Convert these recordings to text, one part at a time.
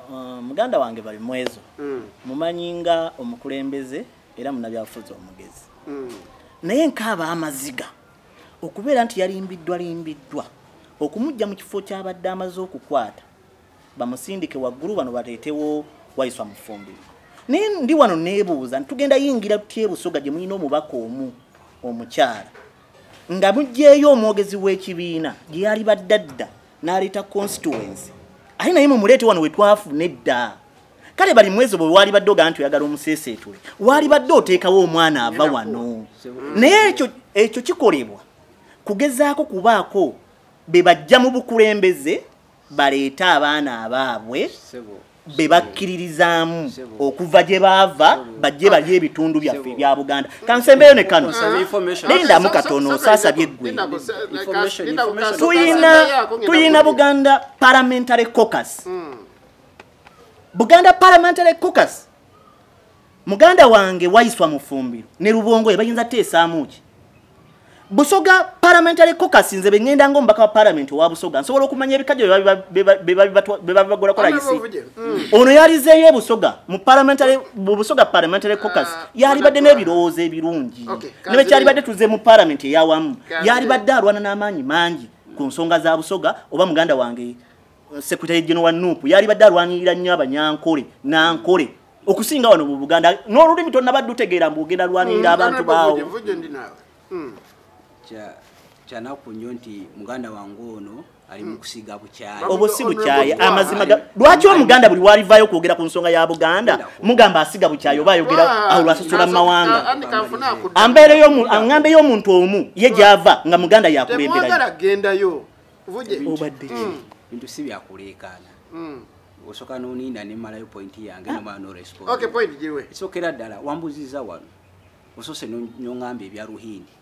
Uh, muganda wange bali mwezo mm. mumanyi nga omukulembeze era munabyabufuzi omugezi mm. naye nkaaba amaziga okubeera nti yalimbiddwa limbiddwa okumujja mu kifo kyabadde amaze okukwata bamusindike waggulu bano baleetewo wayiswa mufumbiro naye ndi wano neebuuza nti tugenda yingira tutya ebusoga gye mulina omubaka omu omukyala nga mugyeyo omwogezi w'ekibiina gye yali baddadda naleeta constituency aye naye mumuleete wano wetwafuna edda kale bali mwezi obwo waali badde ogaa nti oyagala omuseeseetule waali badde oteekawo omwana ava wano naye ekyo ekyo kikolebwa kugezaako kubaako be bajja mu bukulembeze baleete abaana abaabwe be bakkiririzaamu okuva gye baava bajje balye ebitundu byaffe ebya buganda kansembeyo ne kano lindamu katono osaasabye eggwe tuyina buganda parliamentary cocus hmm. buganda parliamentary cocus muganda wange waiswa mufumbiro ne lubongo ye bayinza teesaamu ki busoga parliamentary caucus nze bengenda nga omubaka wa parliament owa busoga nsobola okumanya ebikajjo bebabibagula kola isi mm. ono yalizeeyo ebusoga mu parliamentary mu busoga parliamentary caucus ah, yalibadde n'ebirowoozo ebirungi ne bwe kyalibadde tuze mu parliament eyawamu yalibadde alwana n'amaanyi mangi ku nsonga za busoga oba muganda wange eh, secretary general wa nup yalibadde alwanirira nnyo abanyankole nankole okusinga wano mu buganda n'olulimi tonnabadde utegeera mbu ogenda lwanirira mm, abantu baawo mm. kyanaku nnyo nti muganda wange ono ali mu mm. kusiga bukyayi obwo si bukyayi amazima lwaki omuganda buli walivayo okwogera ku nsonga ya buganda mugamba asiga bukyayi oba ayogera awo lwasasula mu mawanga ambeereyoambeeyo omuntu omu ye gyava nga muganda yakulemberayo obadde bintu si byakuleekaana osoka noniina nemalayo point yange nomala noresponsokeera ddala wambuziza wano osose nongamba ebya ruhindi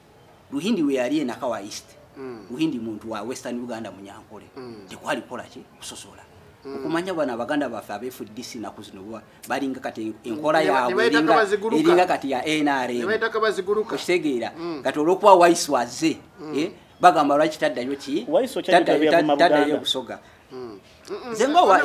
ruhindi weyali enaka wa east mm. ruhindi muntu wa western uganda munyankole mm. tekwali kolaki kusosola mm. okumanya bano abaganda baffe abefdc naku zino balinga kati enkola yabwe eringa kati ya nrm okitegeera kati olwokuba wise waze eh, bagamba lwaki taddayo ki taddayo busoga nze nga owa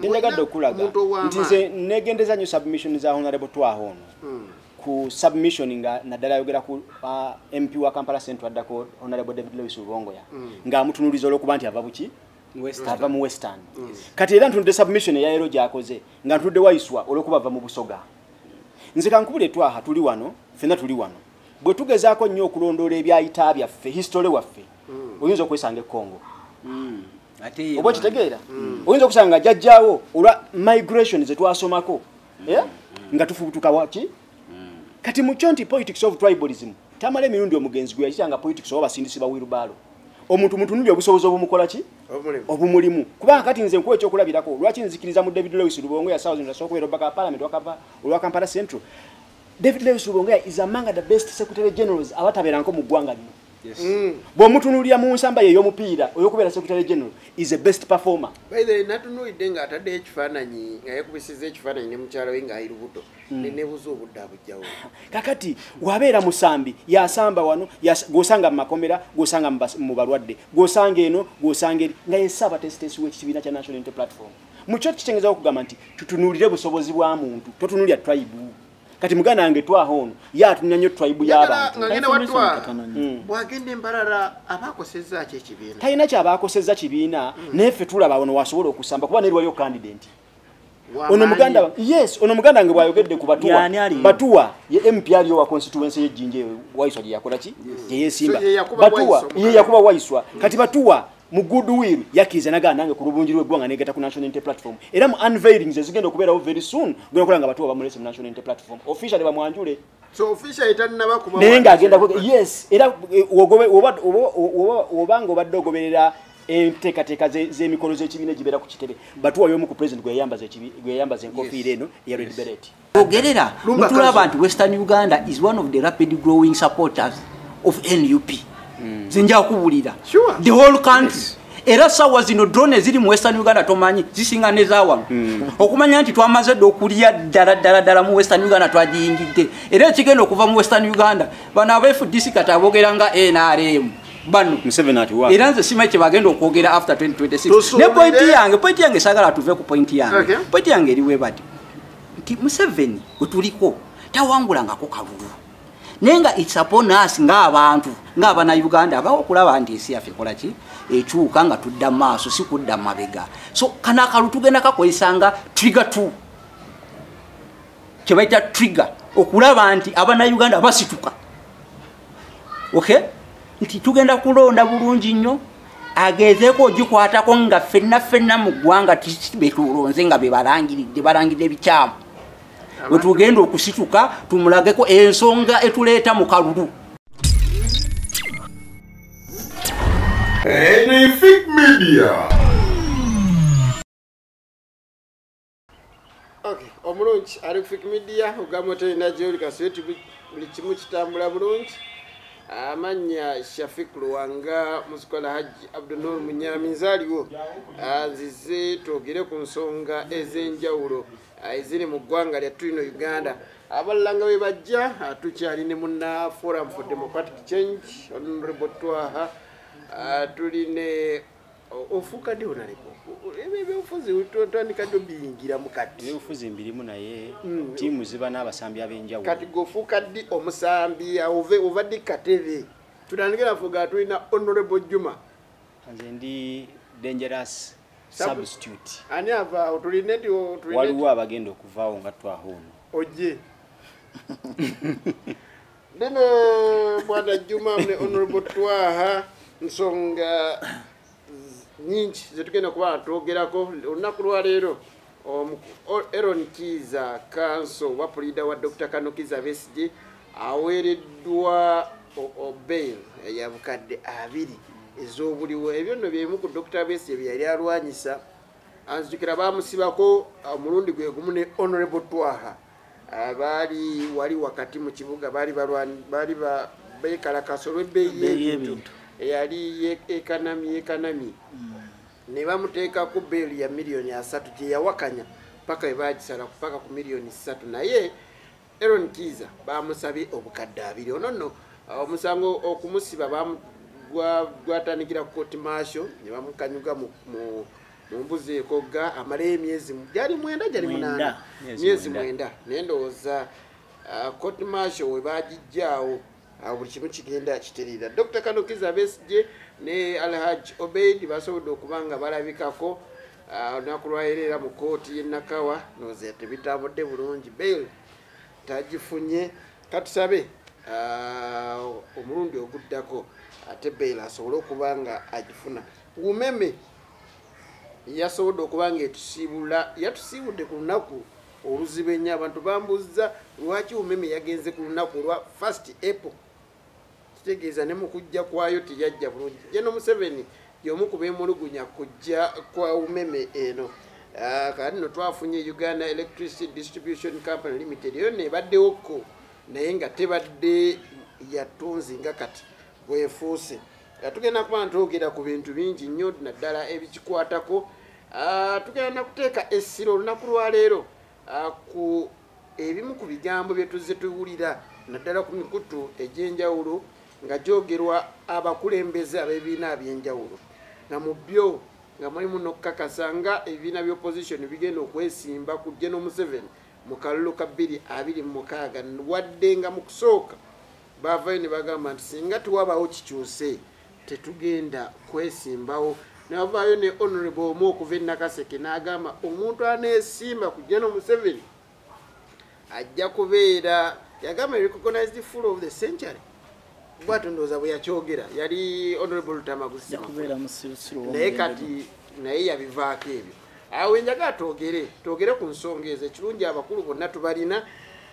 njagadde okulaga nti nze negendeza nyo submission za honorable twaho ono hmm. ku submission nga naddala ayogera ku uh, mp wa kampala central addako honorable david lewis lubongoya hmm. nga amutunuliza olwokuba nti ava buki ava mu western hmm. kati era ntunudde submission eyayero gyakoze nga ntunudde waiswa olwokuba ava mu busoga nze kankubula etwaha tuli wano fena tuli wano bwe tugezaako nnyo okulondoola ebyayita byaffe history waffe oyinza okwesanga ekongo mm. oba okitegeera mm. oyinza okusanga jajjawo olwa migration zetwasomako mm. eh? nga tufubutuka waki kati mukyo nti politics of tribalism tamala emirundi omugenzi gwe yakitanga politics oba basindisi ba wirubaalo omuntu mutunulya obusobozi obumukola ki obumulimu kubanga kati nze nkuwa ekyokulabirako lwaki nzikiriza mu david lewis lubongo yasaokubeerobaka palamenti olwa kampala central david lewis lubongo is among the best secretary generals abatabeeranko mu ggwanga lino Mm. bwomutunulira mu nsamba ye yomupiira oyokubeera secretary general is a best performer natunulidde nga ataddeyo ekifaananyi nga yakubisiza ekifaananyi ne mukyala we nga ayirubuto mm. nenebuza obudde abujjawo kakati wabeera musambi yasamba wano gwosanga mu makomera gwosanga mu balwadde gwosanga eno gwosanga eri nga yesaaba tesitesi wekikibiina kya national inte platform mukyo kitengezawo okugamba nti tutunulire busobozi bwa muntu totunulira tribe kati muganda wange twaha ono ye atumya nnyo tribe y'abantutalina mm. kyabaakosezza kibiina mm. naye ffe tulaba ono wasobola okusamba kuba neriwayo kandidenti ono muganda yes ono muganda nge bwayogedde ku batuwa batuwa ye mp aliyo wa constituency ye jinje waiswa je yakola ki je yesimba batuwa ye yakuba waiswa kati batuwa mu goodwill yakiriza nagaa nange ku lubungi lweggwanga negata ku national unity platform era mu unveilings ezigenda okubeerawo very soon genda okola nga batuwa bamulese mu national unity platform officially bamwanjule naye ng'agenda yes era eh, obanga obadde ogoberera enteekateeka z'emikolo z'ekibiina egibeera ku kitebe batuwayo omu ku president gwe yayambaza enkofiira eno eya red beret ogerera mutula abantu western uganda is one of the rapid growing supporters of nup mm. zinja kubulira sure. the whole country yes. era sawa zino drone ziri mu western uganda tomanyi zisinga nezawa mm. okumanya nti twamaze dde okulya ddala ddala ddala mu western uganda twagiyingidde era ekigenda okuva mu western uganda bano abfdc kati abogera nga nrm bano era nze simanyi kyebagenda okwogera after 2026 ne pointi yange pointi yange sagala tuve ku pointi yange okay. pointi yange eriwebati nti museveni wetuliko tawangulangako kalulu naye nga its upon us ngaabantu ngaabana uganda abawo okulaba nti ensi yaffe ekola ki ekyuka nga tudda maaso si kudda mabega so kano akalu tugenda kakozesa nga trigger t kyebaita trigger okulaba nti abana uganda basituka okay nti tugenda kulonda bulungi nnyo agezeeko ogikwatako nga fenna fenna mu ggwanga betulonze nga bebalangiridde balangiridde ebikyamu wetugenda okusituka tumulageko ensonga etuleeta mu kalulu Anything Media. okay omulungi ali kufik media ogamba otenda gyoli kasiyoti buli kimu kitambula bulungi amanya shafik luwanga musikola hajji abdunur munyaminzi aliwo azize twogere ku nsonga ez'enjawulo ah, eziri mu ggwanga lyattu lino uganda abalanga we bajja ah, tukyali ne muna forum for democratic change honorable twaha ah, tuli ne ofuuka ddi onaleko ebyobufuzi tandika ddi obiyingiramu kati ebyobufuzi mbirimu naye hmm. tiimu ziba n'abasambi ab'enjawulo kati gofuuka ddi omusambi ove ova ddi katebe tutandike nafuga tulina honorable juma nze ndi dangerous substitute ani avaawo tulina nti waliwo abagenda okuvaawo nga twaho ono oje Bino bwana Juma mne honorable Twaha nsonga nyingi zetugenda kuba twogerako olunaku lwaleero um, Aaron Kiiza kanso wa puliida wa Dr. Kano Kiiza Besigye aweereddwa obail ya bukadde abiri ez'obuliwo ebyo nno byemu ku Dr. Besigye bye yali alwanyisa anzijukira baamusibako omulundi uh, gwe gumu ne honorable Twaha abaali wali wakati mu kibuga baali baali bekalakasa olw'ebbeeyi y'ebintu eyali ekanami ekanami hmm. ne bamuteekako beeli ya miliyoni asatu gye yawakanya paka we bagisala kupaka ku miliyoni satu naye aron kiiza bamusabye obukadde abiri ono nno uh, omusango okumusiba gwatandikira ku kooti maasho ne bamukanyuga mu mumbuzeeko ga amalayo emyezi gyali mwenda gyali munaana myezi mwenda naye ndowooza uh, court marshal we bagijjaawo uh, buli kimu kigenda kiterera dr kanukiza besje ne alhaj obeid basobodde okuba nga balabikako uh, olunaku lwayera era mu kooti yenakawa noze tebitambudde bulungi bail tagifunye katusabe omulundi oguddako ate bail asobole okuba nga agifuna umeme yasobodde okuba nga etusiibula yatusiibudde ku lunaku oluzibu ennyo abantu bambuzza lwaki umeme yagenze ku lunaku olwa first apple kitegeeza ne mu kujja kwayo teyajja bulungi jeno museveni yomu ku bemulugunya kujja kwa umeme eno ah, kati no twafunye uganda electricity distribution company limited eyo nebaddewo ko naye nga tebadde yatunzi nga kati bwefuuse nga tugenda kuba ntwogera ku bintu bingi nnyo naddala ebikikwatako ah, tugenda nakuteeka essira olunaku lwaleero ah, ku ebimu ku bigambo bye tuzze tuwulira naddala ku mikutu egy'enjawulo nga gyogerwa abakulembeze ab'ebibiina aby'enjawulo nga mu byo nga mulimu n'okukakasa nga ebibiina by'opposition bigenda okwesimba ku geno museveni mu kalulu ka 226 wadde nga mu kusooka bavayo ne bagamba nti singa tewabaawo kikyuse tetugenda kwesimbawo navaayo ne honorable omu okuva enakaseke n'agamba omuntu aneesimba ku jeno museveni ajja kubeera yagamba recognized full of the century bwatyo ndowooza bwe yakyogera yali honorable lutamagusimunaye kati naye yabivaako ebyo awo enjaga twogere twogere ku nsonga ezo ekirungi abakulu bonna tubalina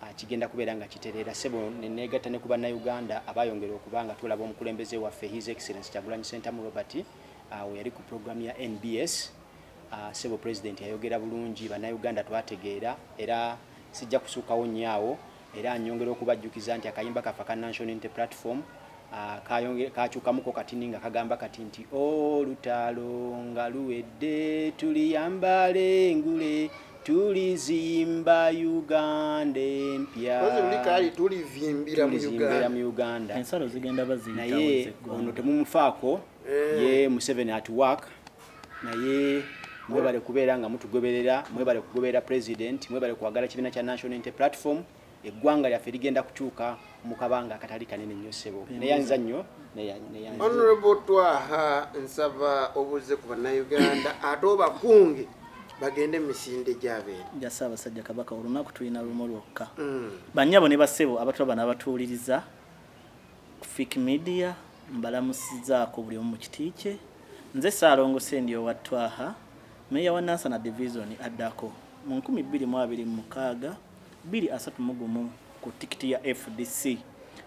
Ah, kigenda kubeera nga kitereera sebo neneegatta ne ku bannayuganda abayongera okuba nga tulaba omukulembeze waffe his excellence kyagulanyi sentamu robert ah, we yali ku programu ya nbs ah, sebo president yayogera bulungi bannayuganda twategeera era sijja kusuukawo nnyo awo era nyongera okubajjukiza nti akayimba kaffe aka national inte platform Ah, kakyukamuko kati ninga kagamba kati nti olutalo oh, nga luwedde tuliyambala engule tulizimba uganda empya tulivimbira mu uganda ensalo zigenda baziyitawonaye ono temumufaako eh. ye museveni at work naye mwebale kubeera nga mutugoberera mwebale kugoberera president mwebale kwagala kibiina kya national inte platform eggwanga lyaffe ligenda kukyuka mu kabanga akatali kanene nnyo ssebo neyanza nnyo honorable twaha nsaba obuze ku bannayuganda ate obakunge bagende misinde gyabeera jasa abasajja kabaka olunaku tulina lumu lwokka mm. banyabo ne basebo abatula bana abatuuliriza fik media mbalamusizaako buli omu mu kiti kye nze saalongo sendi owa twaha meeya wa nansana divizoni addako mu 226 biri asatu mu gumu ku tikiti ya fdc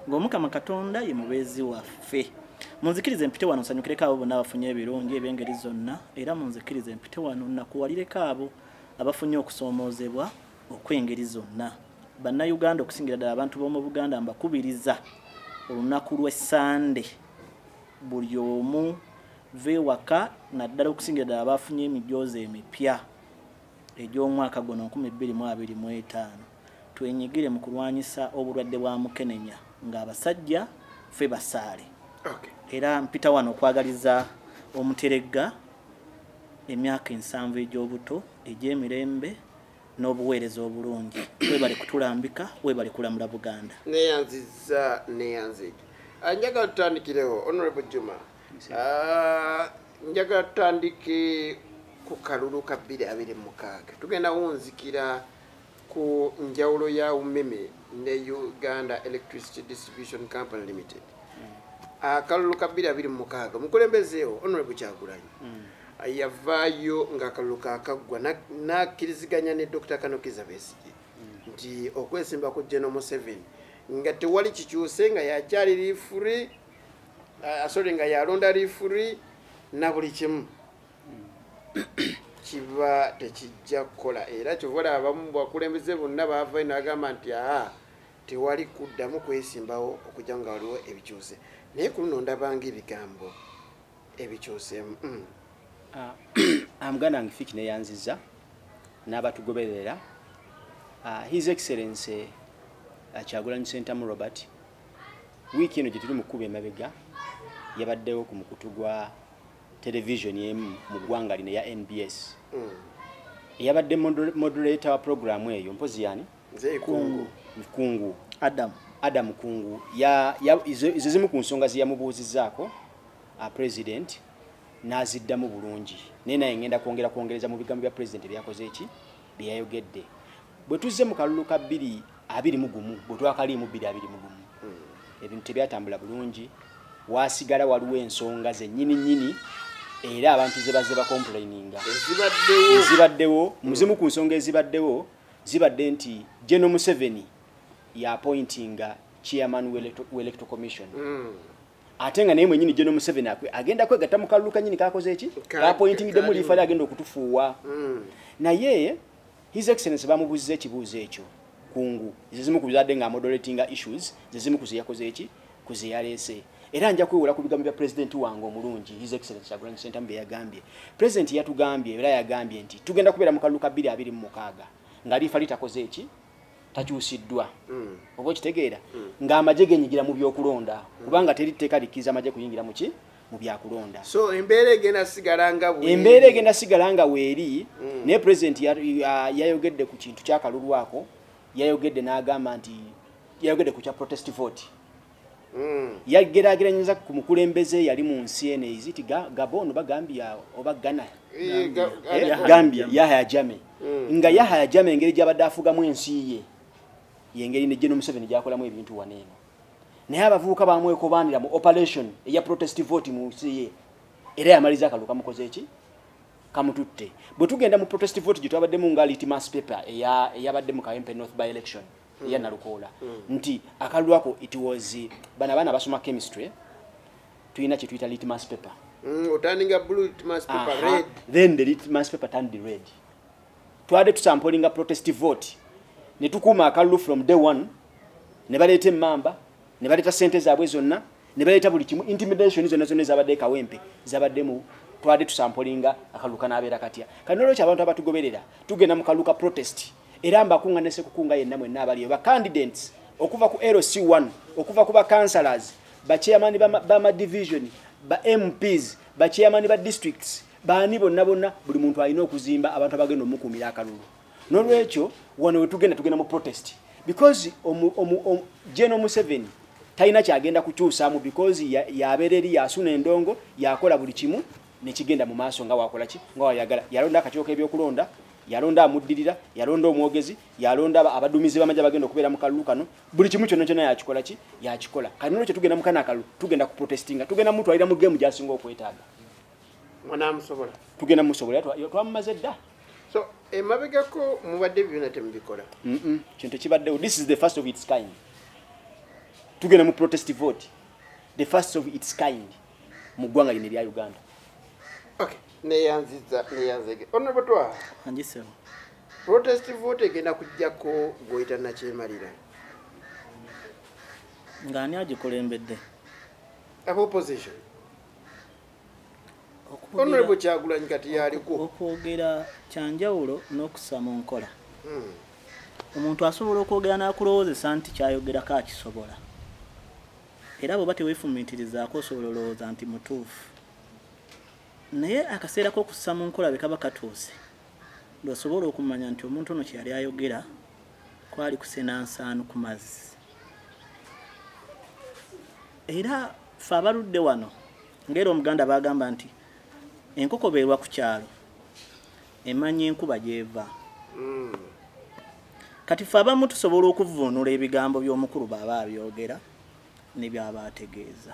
ng'omukama katonda ye mubeezi waffe munzikiriza empite wano nsanyukireko abo bonna abafunye ebirungi ebyengeri zonna era munzikiriza empite wano nakuwalireko abo abafunye okusoomoozebwa okw'engeri zonna bannayuganda okusingira ddala abantu b'omu buganda mbakubiriza olunaku lw'essande buli omu vewaka naddala okusingira ddala baafunye emijoozi emipya egy'omwaka guno 2025 twenyigire mu kulwanyisa obulwadde bwa mukenenya ng'abasajja fe basaale era mpita wano okwagaliza omuteregga emyaka ensanvu egy'obuto egy'emirembe n'obuweereza obulungi webali kutulambika webali kulamula buganda neyanziza neyanzigi anjagala tutandikirewo honorable juma Ah, njagala tutandike ku kalulu ka bbiri abiri mukaaga tugenda wunzikira ku njawulo ya umeme ne uganda electricity distribution company limited hmm. akalulu ka bbiri abiri mukaaga omukulembezeewo honorable kyagulanyi hmm. yavaayo ngaakalulu kakaggwa nakkiriziganya ne dr kanokiza besigye hmm. nti okwesimba ku geno museveni nga tewali kikyuse nga yakyali lifuri asole nga yalonda lifuri na buli kimu kiba tekijja kukola era kyovola abamu bakulembeze bonna bavayo nagamba nti aa tewali kuddamu kwesimbawo okujja nga waliwo ebikyuse naye ku luno ndabanga ebigambo ebikyusemu mm. ah, ah, muganda wange fiki neyanziza n'abatugoberera ah, his excellency kyagulanyi sentamu robert wiiki eno gye tuli mu kkuba emabega yabaddewo ku mukutu gwa televisioni emu mu ggwanga lino eya nbs hmm. eyabadde moderator wa puroguramu eyo mpozi yani kungu adamu adamu kungu ezo zimu ku nsonga zeyamubuuzizaako uh, president n'aziddamu bulungi naye naye ngenda kwongera kwongereza mu bigambo bya president ebyakoze eki byeyayogedde bwe tuzze mu kalulu ka bbiri abiri mu gumu bwe twakaliimu bbiri abiri mu gumu hmm. ebintu tebyatambula bulungi waasigala waliwo ensonga zennyini nnyini era abantu ze bazze bakomplaininga ezibaddewo muzimu ku nsonga ezibaddewo zibadde nti geno museveni yapointinga chairman welecto commission hmm. ate nga naye mwenyini geno museveni agenda kwegatta mu kalulu kanyini kakoze eki kapointingidemu liifali agenda okutufuuwa hmm. naye His Excellency bamubuzze ekibuuzo ekyo kungu zezimu ku bizadde nga moderatinga issues zezimu ku zeyakoze eki ku zeyaleese era nja kwewola ku bigambo bya pulezidenti wange omulungi his excellence kyagulanyi sentamu bye yagambye pulezidenti yatugambye era yagambye nti tugenda kubeera mu kalulu ka bbiri abiri mu mukaaga nga liifa litakoze eki takyusiddwa mm. oba okitegeera mm. ng'amagye genyigira mu byokulonda mm. kubanga teri tteeka likkiriza amagye kuyingira mu ki mu byakulonda so embeera egenda sigala nga weeri embeera egenda sigala nga weeri mm. naye pulezidenti yayogedde ku kintu kyakalulu ako yayogedde n'agamba nti yayogedde ku kya protest vote mm. yagerageranyiza ku mukulembeze yali mu nsi eno eziti gabon oba gambia oba ghana eh, eh, gambia yahaya jame mm. nga yahaya jame engeri gyabadde afugamu ensi ye yengeri ne geno museveni gyakolamu ebintu waneeno naye abavubuka bamwekobaanira mu operation eya protest vote mu nsi ye era yamaliza akalulu kamukoze eki kamututte bwe tugenda mu protest vote gye twabaddemu nga litmas paper eyabadde mu kawempe north by election hmm. eya nalukoola hmm. nti akalulu ako it was bana abaana basoma chemistry tulina kye tuyita litmas paper hmm, otandinga blue litmas paper red then the litmas paper turned red twade tusampolinga protest vote ne tukuuma akalulu from day one ne baleeta emmamba ne baleeta ssente zaabwe zonna ne baleeta buli kimu intimidation zonna zonna ezabadde ekawempe zabadde mu twade tusampolinga akalulu kanaabeera katya kati nolwekyo abantu abatugoberera tugenda mu kalulu ka protest era mbakunga nese kukunga yenna mwenna abaliyo bacandidates okuva ku lc 1 okuva ku bacancelors bacheyamani bamadivision ba mps bacheyamani ba districts baani bonna bonna buli muntu alina okuzimba abantu abagenda omukuumira akalulu nolwekyo wano wetugenda tugenda mu protest because general museveni talina kyagenda kukyusaamu because yabeera eri yasuna endongo yakola buli kimu nekigenda mu maaso nga wakola ki nga wayagala yalonda akakiko k'ebyokulonda yalonda amuddirira yalonda omwogezi yalonda abadumizi bamagye abagenda okubeera mu kalulu kano buli kimu kyonna kyonna yakikola ki yakikola kati nolwekyo tugenda mukana akalulu tugenda ku protestinga tugenda mutwalira mu gemu gyasinga okwetaaga munamusobola tugenda musobola twamumaze dda so emabegako mubadde byona temubikola kintu kibaddewo this is the first of its kind tugenda mu protest vote the first of its kind mu ggwanga lino erya uganda okay neyanziza neyanzege onobutwa anjiseo protest vote egenda kujjako gwoyita nakyemalira ngaani agikulembedde aba opposition honorable kyagulanyi kati yaliko okwogera kyanjawulo n'okusa mu nkola hmm. omuntu asobola okwogera n'akulowoozesa nti kyayogerako akisobola era bweoba teweefumiitirizaako osobola olowooza nti mutuufu naye akaseera k'okussa mu nkola bwe kaba katuuse lwosobola okumanya nti omuntu ono kyeyali ayogera kwali kusenansaanu ku mazzi era fe abaludde wano ngaera omuganda bagamba nti enkoko beerwa ku kyalo emanya enkuba gyeva hmm. kati fe abamu tusobola okuvuunula ebigambo by'omukulu baaba abyogera nebyaba ategeeza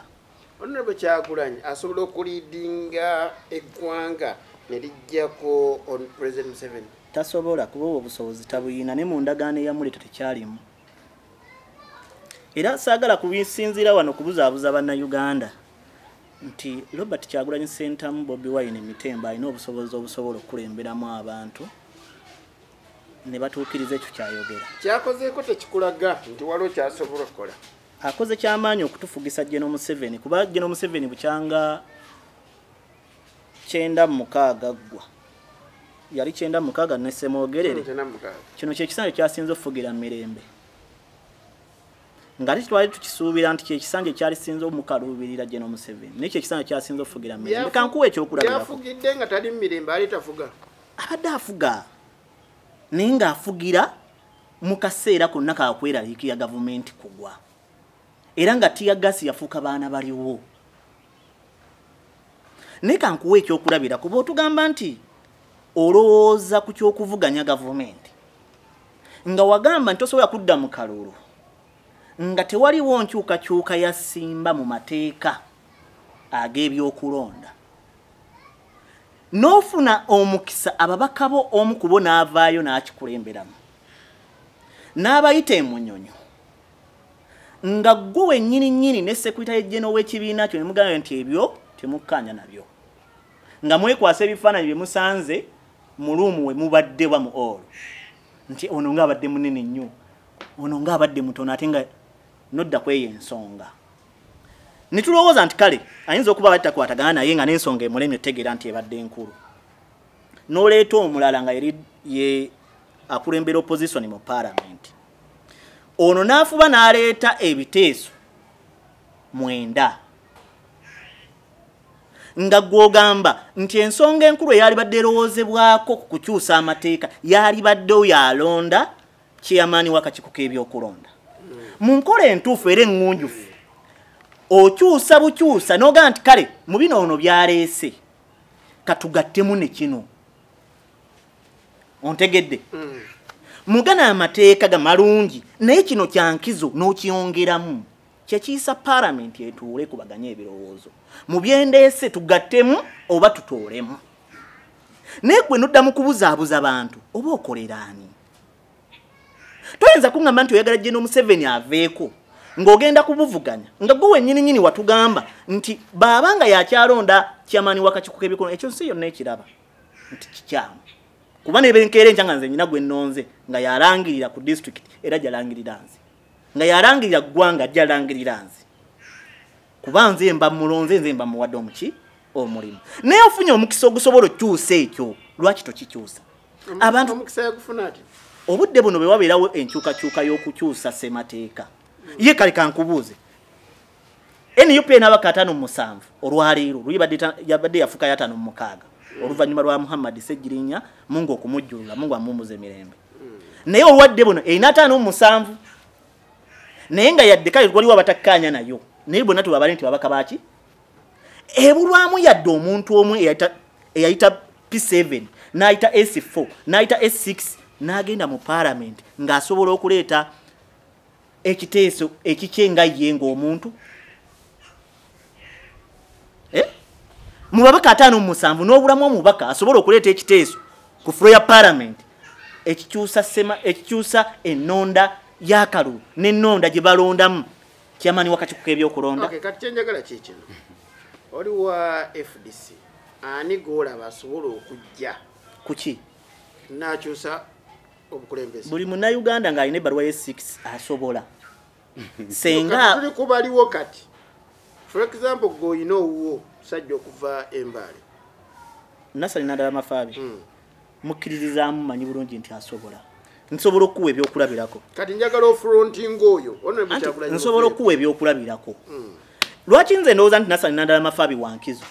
ononabo kyagulanyi asobola okulidinga eggwanga nelijjako on president museven tasobola kuba obwo obusobozi tabuyina ne mu ndagaano eyamuleta tekyalimu era saagala kubisinziira wano kubuzaabuza bannayuganda nti robert kyagulanyi sentamu bobi wine mitemba alina obusobozi obusobola okukulemberamu abantu ne batuukiriza ekyo kyayogera kyakozeeko tekikulaga nti waliwo kyasobola okukola akoze kyamaanyi okutufugisa geno museveni kuba geno museveni bukyanga kyenda mukaaga ggwa yali kyenda mukaaga ne semwogerere kino kyekisanja kyasinza okufugira mirembe nga tetwali tukisuubira nti kyekisanja ekyali sinza omukaluubirira gye nomuseveni naye kyekisanja kyasinza okufugira mirembe kankuwa ekyokulabirayafugidde nga tali mumirembe ali tafuga abadde afuga naye ngaafugira mu kaseera konna kakweraliikira gavumenti kugwa era nga tiyagasi yafuuka baana baliwo naye kankuwa ekyokulabira kuba otugamba nti olowooza ku kyokuvuganya gavumenti nga wagamba nti osobola kudda mu kalulu nga tewaliwo nkyukakyuka yasimba mu mateeka ag'ebyokulonda n'ofuna omukisa ababaka bo omu kubo n'avaayo n'akikulemberamu n'abayita emunyonyo nga gwe wenyini nyini ne sekwita yejjeno w'ekibiina kyo ne mugamba nti ebyo temukkaanya nabyo nga mwekwasa ebifaananyi bye musanze mu luumu we mubadde wa mu olo nti ono nga abadde munene nnyo ono nga abadde mutono ate nga nodda kweyo ensonga ne tulowooza nti kale ayinza okuba abadde takwatagana naye nga n'ensonga emulemye otegeera nti ebadde enkulu n'oleeta omulala nga yeri ye akulembera opposition mu palamenti ono n'afuba n'aleeta ebiteeso mwenda nga gwogamba nti ensonga enkulu eyalibadde erowoozebwako ku kukyusa amateeka yalibadde oyo alonda kyeyamaani wakakiiko k'ebyokulonda mu nkola entuufu era eŋŋunjufu okyusa bukyusa n'ogaa nti kale mu bino ono byaleese katugattemu ne kino ontegedde mm. mugana amateeka ga malungi naye kino kyankizo n'okyongeramu kyekiyisa paramenti etuule kubaganye ebirowoozo mu byendeese tugattemu oba tutoolemu naye gwe nodda mu kubuzaabuza bantu oba okoleraani toyinza kuŋamba nti oyagala jeno museveni aveeko ng'ogenda kubuvuganya nga gwe wenyini nyini watugamba nti baaba nga yakyalonda kyamaani wakakiko k'ebikono ekyo nsi yonna ekiraba nti kikyamu kuba nebenkeera enkya nga nze nyina gwe nonze nga yalangirira ku district era jalangirira nze nga yalangirira ggwanga jalangirira nze kuba nze mba mulonze nze mba muwadde omuki omulimu naye ofunye omukisa ogusobola okyusa ekyo lwaki tokikyusa abantu omukisa yagufuna ati obudde buno bwe wabeerawo enkyukakyuka y'okukyusa ssemateeka ye kale kankubuuze nup enabaka atano musanvu olwaleero luyabadde yafukayo atano mumukaaga oluvannyuma lwa muhammadi segirinya mungu okumujjulula mungu amumuza emirembe naye olwadde buno erina ataano musanvu naye nga yadde kale waliwo abatakkaanya nayo naye bonna tebabale nti babaka baki ebulwamu yadde omuntu omu eyayita p7 n'ayita s4 n'ayita s6 n'agenda mu paalamenti ng'asobola okuleeta ekiteeso ekikye nga ye ng'omuntu eh? mu babaka ataano mu musanvu n'obulamu omubaka asobola okuleeta ekiteeso ku fulo ya palamenti ekikyusa sema ekikyusa ennonda y'akalulu n'ennonda gye balondamu kyamaanyi wakati kuka ebyokulonda kati kyenjagala kyekino oli wa fdc ani goolaba asobola okujja kuki nakyusa obukulembeze buli munnayuganda ng'alina ebbaluwa ye 6 asobola senga tuli kubaliwo kati for example gwe olina owuwo musajja okuva embaale nasali nadala mafaabi hmm. mukkiririzaamu manyi bulungi nti asobola nsobola okuwa ebyokulabirako kati njagala ofrontinga oyo nsobola okuwa ebyokulabirako hmm. lwaki nze ndowooza nti nasali nadala mafaabi wankizo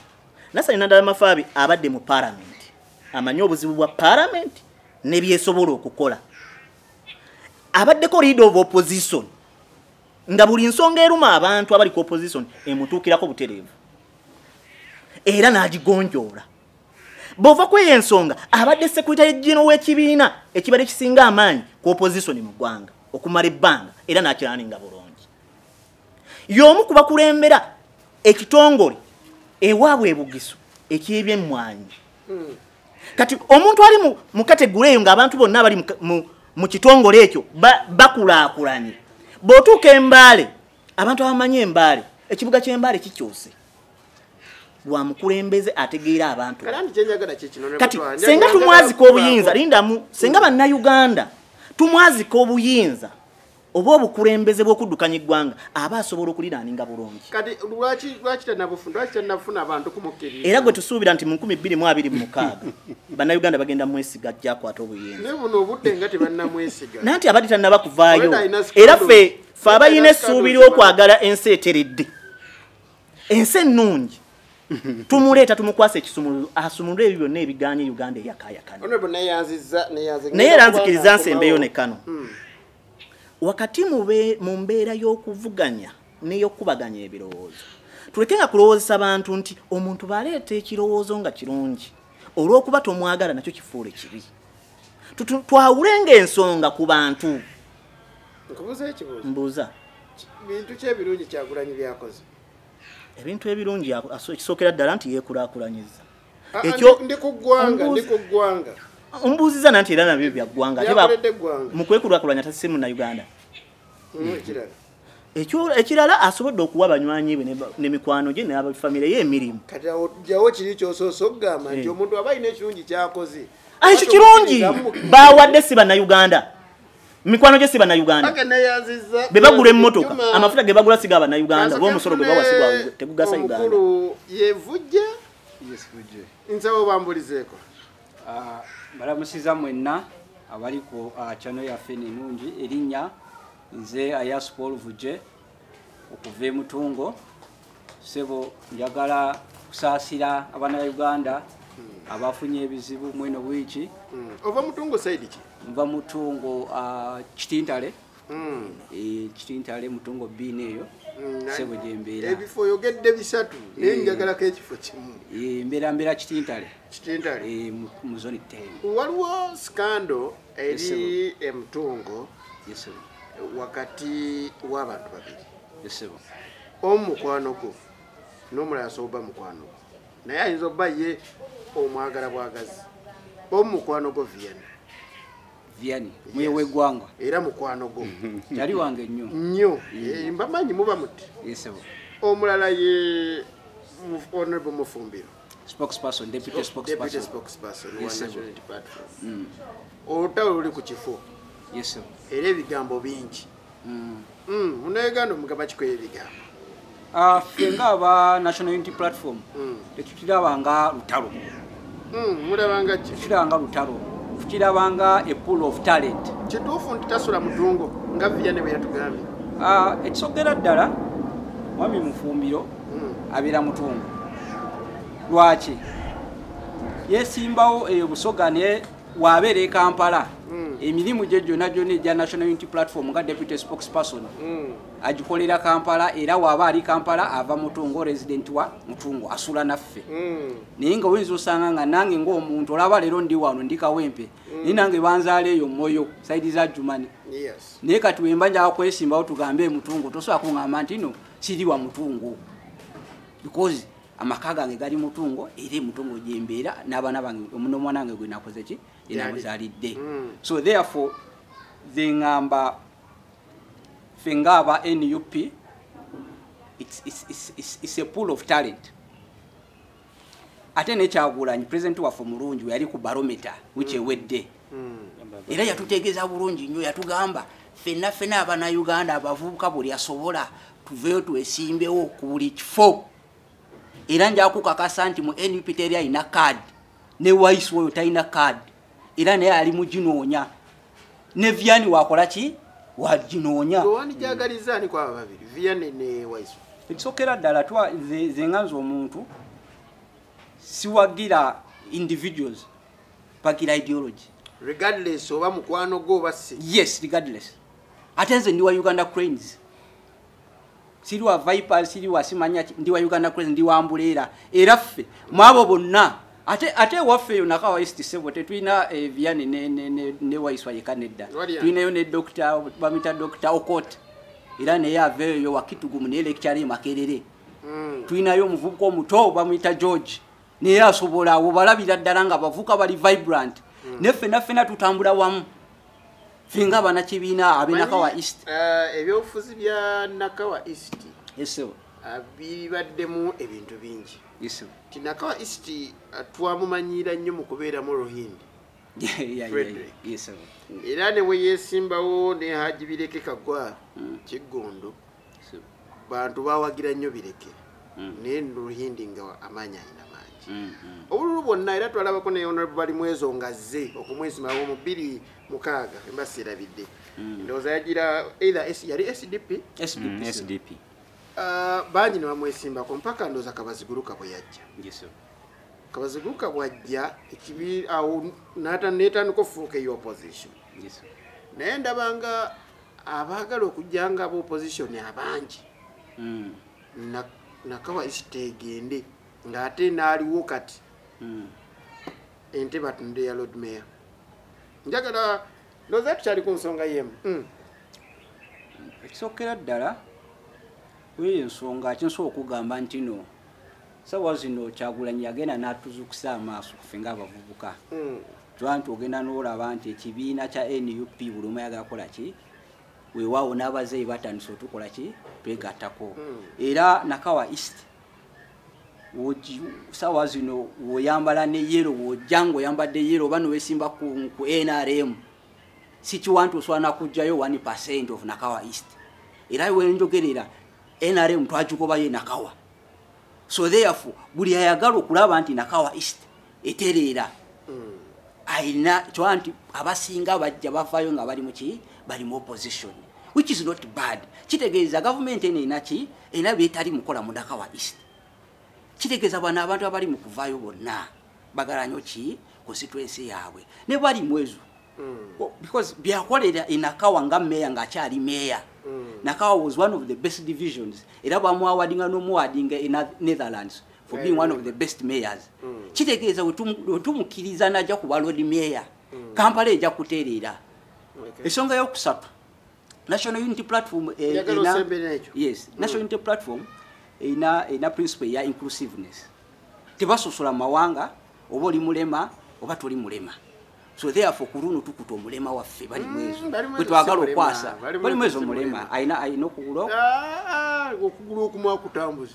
nasali nadala mafaabi abadde mu paramenti amanyi obuzibu bwa palamenti nebyesobola okukola abaddeko leader of opposition nga buli nsonga eruma abantu abali ku opposition emutuukirako butereevu era n'agigonjoola bw'ova ku eyo ensonga abadde sekuritale gino w'ekibiina ekibadde kisinga amaanyi ku opposition mu ggwanga okumala ebbanga era n'akiraninga bulungi y'omu ku bakulembera ekitongole ewaabwe ebugiso ekyebyemmwanyi hmm. kati omuntu ali mu kategula eyo ng'abantu bonna abali mu kitongole ekyo bakulaakulanye bw'otuuka embaale abantu abamanyi embaale ekibuga ky'embaale kikyuse wa mukulembeze ategeera abantu kati senga tumwazika obuyinza lindamu senga bannayuganda tumwazika obuyinza oba obukulembeze bw'okuddukanya eggwanga aba asobola okuliraaninga bulungi era gwe tusuubira nti mu 226 bannayuganda bagenda mwesiga jakwata obuyinzananti abadde tannaba kuvaayo era ffe fe abayina essuubi ly'okwagala ensi eteredde ensi ennungi tumuleeta tumukwasa ekisumuluzo asumulule ebyo byonna ebiganye uganda eyakayakana naye era nzikiriza nsembeyo nekano hmm. wakati mu mbeera y'okuvuganya n'eyokukubaganya ebirowoozo tuleke nga kulowoozesa bantu nti omuntu baleeta ekirowoozo nga kirungi olw'okuba tomwagala nakyo kifuule kibi twawulenga ensonga ku bantu mbuuza bintu kyebirungi kyagulanyi byakoze ebintu ebirungi ekisookera ddala nti yeekulakulanyiza Ah, ah, ekyo ndi ku ggwanga ndi ku ggwanga ombuuziza nanti era nabyo bya ggwanga mu kwekulakulanya tasi mu na uganda mm, ekirala asobodde okuwa banywanyi bwe ne mikwano gye nabafamire ye emirimu kati awo jawo kiri kyosoose okugamba nti eh. omuntu aba alina ekirungi kyakoze ah, ekyo kirungi bawadde si bannayuganda mikwano gye si bannayuganda be bagula emmotoka amafuta ge bagula siga bannayuganda oba omusolo gwe bawasigwa tegugasa uganda nsaba obambulizeeko ah, balamusiza mwenna abali ku ah, cano yaffe nenungi erinnya nze ayas paul vuje okuva emutungo sebo njagala kusaasira abaana ba uganda hmm. abafunye ebizibu mweno wiiki hmm. ova mutungo saidi ki nva mutungo ah, kitintale hmm. eh, kitintale mutongo biina eyo hmm, sebo gyembeera ebifo oyogedde bisatu naye eh. njagalako ekifo kimu eh, mbeera mbeera kitintale kitintale mu zoni ten waliwo sikando eri emutongo wakati w'abantu babiri esebo omu mukwano gwo n'omulala asobola oba mukwano gwo naye ayinza oba ye omwagala bwagazi omukwano gwo vienne viani muye yes. wegwangwa era mukwano gwo yali wange nnyo nnyo eh, mbamanyi muba muti yesebo omulala ye honorable mufumbiro spokesperson deputy oh, spokesperson spokesperson yes, one national platform mm. olutalo luli ku kifo yesebo era ebigambo bingi mm. mm, munauganda omugamba kikoyo ebigambo ah, ffe nga aba national unity platform mm. tetutiraba nga lutalo mulabanga ki tutiranga lutalo tutirabanga a pool of talent kituufu nti tasula mudungo nga viya ne bwe yatugambye ah, ekisogera ddala mwami mufumbiro abeera mutungo lwaki yesimbawo eyo busoga ne wabeera e kampala mm. emirimu gye gyona gyona egya national unity platform nga deputy spokesperson mm. agikolera kampala era waaba ali kampala ava mutungo resident wa mutungo asula naffe mm. naye nga oyinza osanga nga nange ngaomuntu olaba leero ndi wano ndi kawempe mm. naye nange banzaala eyo moyo saidi za jumani yes. naye kati wemba njaga kwesimbawo tugambe emutungo tosobola kungamba nti no siri wa mutungo because amaka gange gali mutungo era emutungo gyembeera n'abaana bange nomwana wange gwe nakoze ki enamuzalidde mm. so therefore ze ngamba fe ngaaba nup it's, it's, it's, it's, it's a pool of talent ate nekyagulanyi president waffe omulungi weyali ku barometa wikyewedde mm. hmm. era yatutegeeza bulungi nnyo yatugamba fenna fena abana uganda abavubuka buli asobola tuveyo twesimbewo ku buli kifo era njakukakasa nti mu nup teri alina card ne wise oyo talina card era naye ali muginoonya ne viani wakola ki waginoonya ekisokera ddala twa zenganza omuntu siwagira individuals pakira ideology regardless oba mukwano gwo oba si yes regardless ate nze ndi wa uganda cranes siri wa viper siri wa simanya ndi wa uganda cranes ndi wa mbuleera era ffe mwabo bonna ate ate ewaffe eyo naka waist sebo tetulina eh, viane ne, ne, ne, ne waiswa yeka nedda tulinayo ne dokita bamita dokita okot era naye aveeyo wakitugumu naye lekitale makerere mm. tulinayo omuvubuka omuto bamuyita george naye asobola awo balabira ddala nga bavuka bali vibrant hmm. naye ffena ffena tutambula wamu fenga abana kibiina abenakawa east eh, ebyobufuzi bya nakawa east ah, bibaddemu ebintu bingi ti nakawa east ah, twamumanyiira nnyo mu kubeeramu rohindi era ne weyesimbawo ne haji bireke kagwa hmm. kiggundu bantu bawagira nnyo bireke mm. naye nruhindi nga amaanyi alina mangi mm, mm. obululu bwonna era twalabako ne honorable bali mwezo nga zze okumwesimawo mu bbiri mukaaga embasi erabidde ndowooza yagira either yali sdp sdp uh, bangi ne bamwesimbako mpaka ndowooza kabaziguruka bwe yajja kabaziguruka bwajja ekibi awo neetandika ofuuka eyo opposition naye ndabanga abaagala okujja nga aba opposition abangi hmm. nakawa isita egende ng'ate naaliwo kati hmm. ente batunde ya lord mayor njagala loza tukyali ku nsonga yemu hmm. ekisookera ddala kweyo ensonga akinsobola okugamba ntino sawa zino kyagulanyi yagenda natuzukisa amaaso kufe nga abavubuka hmm. twanti ogenda nolaba nti ekibiina kya nup buli omu yagakola ki wewawo n'abazeeyi batandise otukola ki twegatako hmm. era nakawa east sawa zino woyambala ne yero wojanga oyambadde yero oba nowesimba ku nrm sikiwantu osobola nakugjayo 1 percent of nakawa east era wenjogerera nrm twagigobayo enakawa so therefore buli ayagala okulaba nti nakawa east etereera hmm. alina kyoba nti abasinga bajja bavayo nga bali muki bali mu opposition which is not bad kitegeeza gavumenti eno enaki ena byetali mukola mu nakawa east kitegeeza bwana abantu abali mu kuvayo bonna bagala nyo ki constituency yaabwe ne bali mwezo mm. oh, because byakolera enakawa nga meya ngaakyali meya mm. nakawa was one of the best divisions era bamwawadinga nomuwadinga e netherlands for being one of the best mayors mm. kitegeeza wetumukkiriza naja kuba lord mayor kampala eja kutereera ensonga yokusatu national unity platform eh, yes mm. national unity platform ina ina principle ya inclusiveness tebasosola mawanga oba oli mulema oba toli mulema so therefore kuluno tukuta omulema waffe bali mm, mwezo bwe twagala okwasa bali mwezo mulema ayina ayina okugula ah, ah, okugula okumwakutambuzi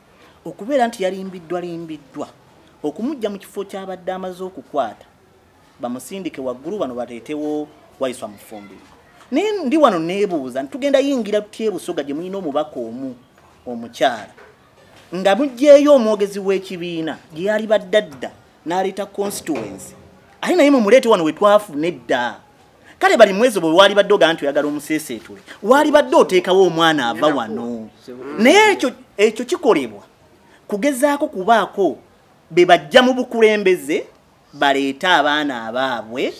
okubeera nti yalimbiddwa limbiddwa okumujja mu kifo ky'abadde amaze okukwata bamusindike waggulu bano baleetewo waiswa mufumbiro naye ndi wano neebuuza nti tugenda yingira tutya ebusoga gye mulina omubaka omu omukyala nga mugyeyo omwogezi w'ekibiina gye yali baddadda n'aleeta constituency aye naye mumuleete wano we twafuna edda kale bali mwezo bwe wali badde ogaa nti oyagala omuseeseetule wali badde oteekawo omwana ava wano naye ekyo ekyo kikolebwa kugezaako kubaako be bajja mu bukulembeze baleete abaana abaabwe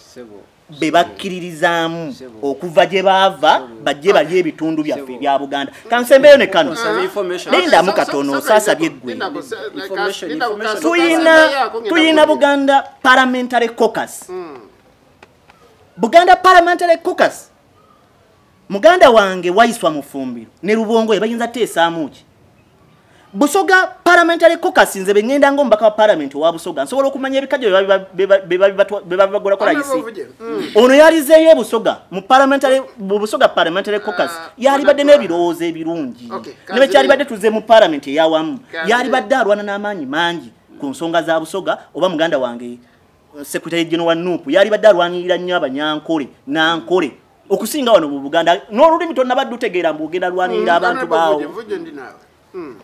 be bakkiririzaamu okuva gye baava bajje balye ebitundu byaffe ebya buganda kansembeyo ne kano lindamu katono osaasabye eggwe tuyina buganda parliamentary cocus mm. buganda parliamentary cocus muganda wange waiswa mufumbiro ne lubongo ebayinza teesaamuki busoga parliamentary cocus nze bengenda nga omubaka wa parliament owa busoga nsobola okumanya ebikajo bebabibagolakola isi mm. ono yalizeeyo ebusoga mu parliamentary busoga parliamentary cocus ah, yalibadde n'ebirowoozo ebirungi nebekyalibadde tuze mu parliament eyawamu yalibadde alwana n'amaanyi mangi ku nsonga za busoga oba muganda wange Secretary General wa Nup yalibadde alwanirira nnyo abanyankole nankole okusinga wano mu Buganda n'olulimi tonnabadde utegeera mbu ogenda lwanirira hmm, abantu baawo hmm.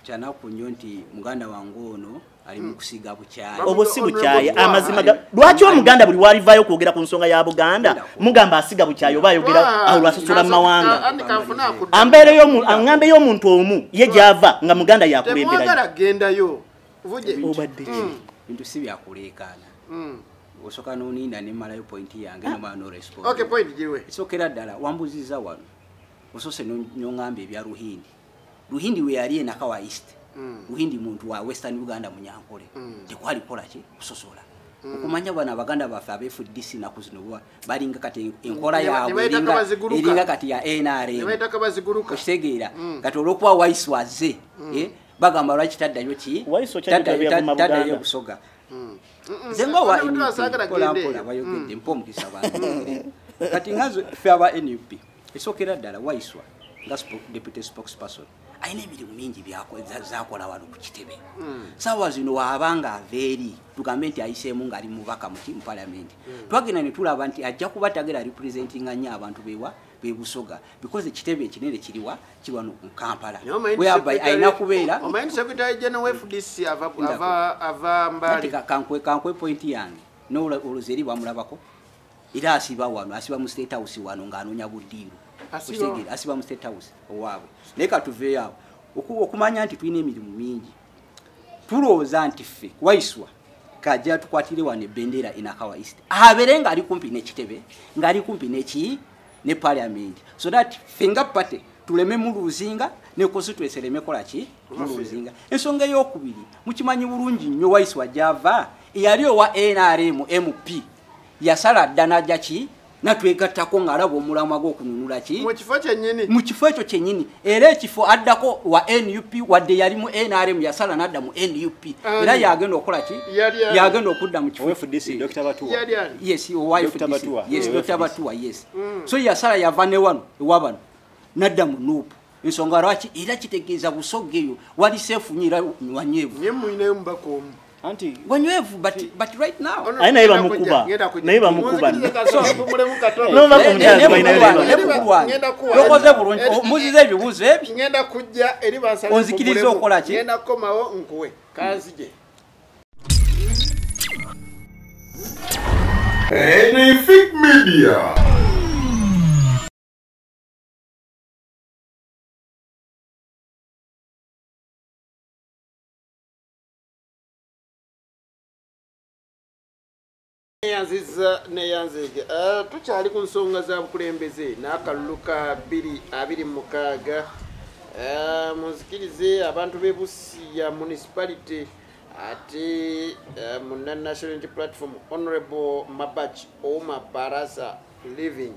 kyanaku nnyo nti muganda wange ono ali mu hmm. kusiga bukyayi obwo si bukyayi amazima lwaki omuganda buli walivayo okwogera ku nsonga ya buganda mugamba asiga bukyayi oba ayogera awo lwasasula mu mawanga ambeereyo aŋambeyo omuntu omu ye gyava nga muganda yakulemberaa obadde mm. bintu si byakuleekaana mm. osoka noniina nemalayo pointi yange nomala norespondsokera ddala wambuziza wano osose nongamba ebya ruhindi ruhindi weyali enaka wa east mm. ruhindi muntu wa western uganda munyankole mm. tekwali kolaki kusosola mm. okumanya bano abaganda baffe abefdc naku zino balinga kati enkola yabwe eringa kati ya nrmokitegeera kati olwokuba waisi waze eh? bagamba lwaki taddayo ki taddayo okusoga hmm. nze nga owa nppolapola bayogedde hmm. mpa omukisa kati nga fe aba nup esookera ddala waiswa nga deputy spokes person alina emirimu mingi zakola wano ku kitebe hmm. saawa zino waaba nga ava eri tugambe nti ayiseemu ngaali mubaka muki mu palamenti twagenda ne tulaba nti ajja kuba tagera representinga nnyo abantu bewa bebusoga because ekitebe ekinene kiriwa kiwano ku kampala whereby alina kubeera kankwe point yange nolwozi eri bamulabako era asiba wano asiba mu state house wano ng'anoonya buddiiro asiba mu state house owaabwe naye katuveeyo awo okumanya nti tulina emirimu mingi tulowooza nti ffe waiswa kajja tukwatire wano ebendera enakawa east abere ngaali kumpi nekitebe ngaali kumpi neki ne parliament so that fenga party tuleme muluzinga ne constituency leme kola ki muluzinga ensonga eyokubiri mukimanyi bulungi nnyo waiswa java eyali owa nrm mp yasala dda naja ki natwegattako ng'alaba omulamwa gw'okununula ki mu kifo kyennyini mu kifo ekyo kyennyini era ekifo addako wa nup wadde yali mu nrm yasala n'adda mu nup era yagenda okukola ki yagenda okudda mu kifo yes owayefdc yes dr batuwa yes mm. so yasala yava ne wano ewabano n'adda mu nuupu nsonga lwaki era kitegeeza busogga eyo wali seefu nyo era wanywevu naye mulinayo mubaka omu anti wanywevu but, yeah. but right now aye naye bamukuba naye bamukuba nokoze bulungi muziza ebibuuzo ebionzikiriza okola ki Anything Media. neyanziza neyanzege eh, tukyali ku nsonga za bukulembeze n'akalulu ka 226 eh, munzikirize abantu b'e busiya municipality ate eh, muna national unity platform honorable mabach oma barasa living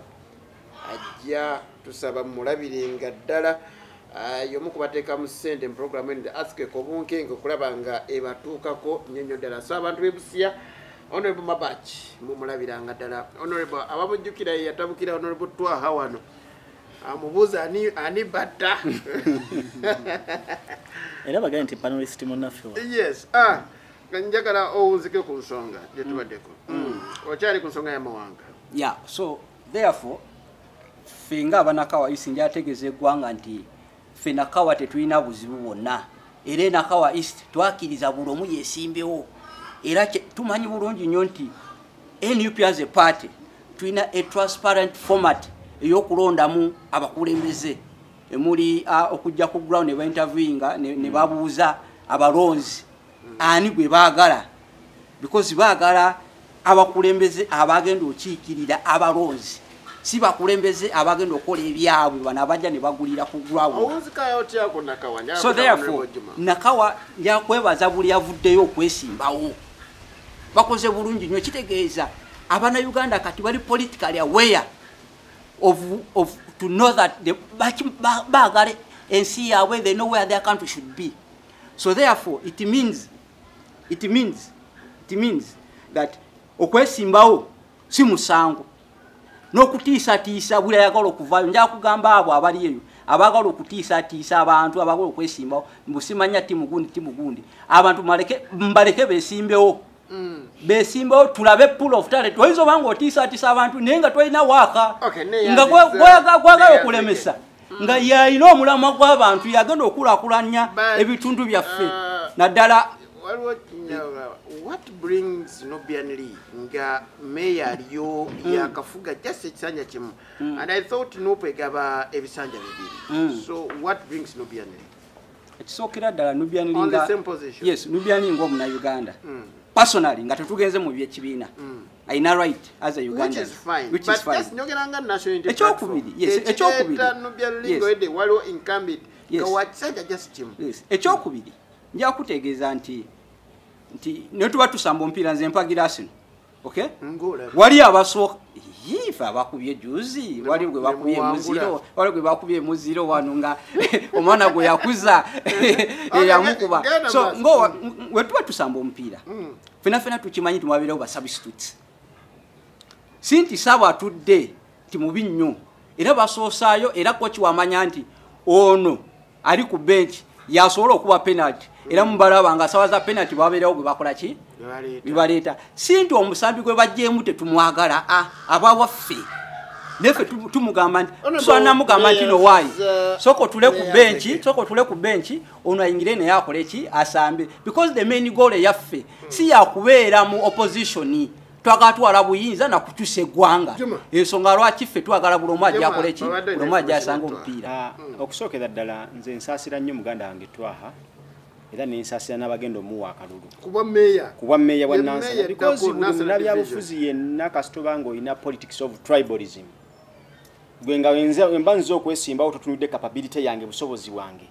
ajja tusaba mulabirenga ddala ah, yomu kubateeka mu ssente mu programu eno athquake obunkenge okulaba nga ebatuukako nnyo nnyo ddala so abantu bebusiya honorable mabach mumulabiranga ddala honorable abamujjukira yeyatabukira honorable twaha wano amubuuza ani batta era bagale nti panelist munaffe yes ah, nga njagala owunzike ku nsonga gyetubadeko mm. mm. okyali ku nsonga yamawanga ya so therefore ffe nga abanakawa isi njategeeza eggwanga nti ffe nakawa tetulina buzibu bwonna era enakawa east twakiriza buli omu yesimbewo era tumanyi bulungi nnyo nti nup as a party tulina a transparent format eyokulondamu abakulembeze emuli okujja ku ground nebainterviewinga nebabuuza abalonzi ani gwe baagala because baagala abakulembeze abagenda okiikirira abalonzi si bakulembeze abagenda okukola ebyabwe bano abajja ne bagulira ku gwawso therefore nakawa yakwebaza buli avuddeyo okwesimbawo bakoze bulungi nyo kitegeeza abana uganda kati bali politically aware of, of to know that baagala ensi yaabwe they know where their country should be so therefore it means it means it means that okwesimbawo si musango n'okutiisatiisa buli ayagala okuvaayo nja kugamba abo abali eyo abagala okutiisatiisa abantu abagala okwesimbawo mbusimanya timugundi timugundi abantu mbaleke besimbewo mm. besimbewo tulabe pool of talent oyinza obanga otiisatiisa abantu naye nga tolina waaka nga gwagala okulemesa nga yalina omulamwa gw'abantu yagenda okulakulanya ebitundu byaffe uh, naddala what brings nobian lee nga meya aliyo mm. yakafuga just ekisanja kimu mm. and i thought nope egaba ebisanja bibiri mm. so what brings nobian lee ekisookera ddala nubian linga yes nubian linga omuna uganda mm. personally nga tetugenze mu byekibiina mm. ayina right as a uganda ekyokubiri ekyokubiri njakutegeeza nti nti netuba tusamba omupiira nze mpagira sino okay ngola wali abaso yifa bakubye juzi wali gwe bakubye muziro wali gwe bakubye muziro wano nga omwana gwe yakuza ya mukuba so ngo wetuwa tusamba omupiira mm. fena fena tukimanyi tumabira oba substitutes sinti sabo atudde ti mubi nnyo era basoosayo era kochi wamanya nti ono ali ku bench yasobola okuba penalty era mubalaba nga sawa za penalty babeerawo gwe bakola ki bibaleeta si nti omusambi gwe bajjeemu tetumwagala ah, aba waffe nefe tumugamba nti tusanamugamba nti no waayi uh, soka otule ku benki soka otule ku benki ono ayingire naye akole ki asambe because the main goal eyaffe si yakubeera mu opposition twagala twala buyinza na kukyusa eggwanga ensonga lwaki ffe twagala buli omu ajakola eki buli omu ajasanga omupiira ah, hmm. okusookera ddala nze nsaasira nnyo muganda wange twaha era nensaasira n'abagenda omuwa akalulu kubwa meeya kubwa meeya bwa nansana because buli munabyabufuzi yenna kasitoba nga olina politics of tribalism gwe nga wenza wemba nze okwesimbawo totunudde capability yange busobozi bwange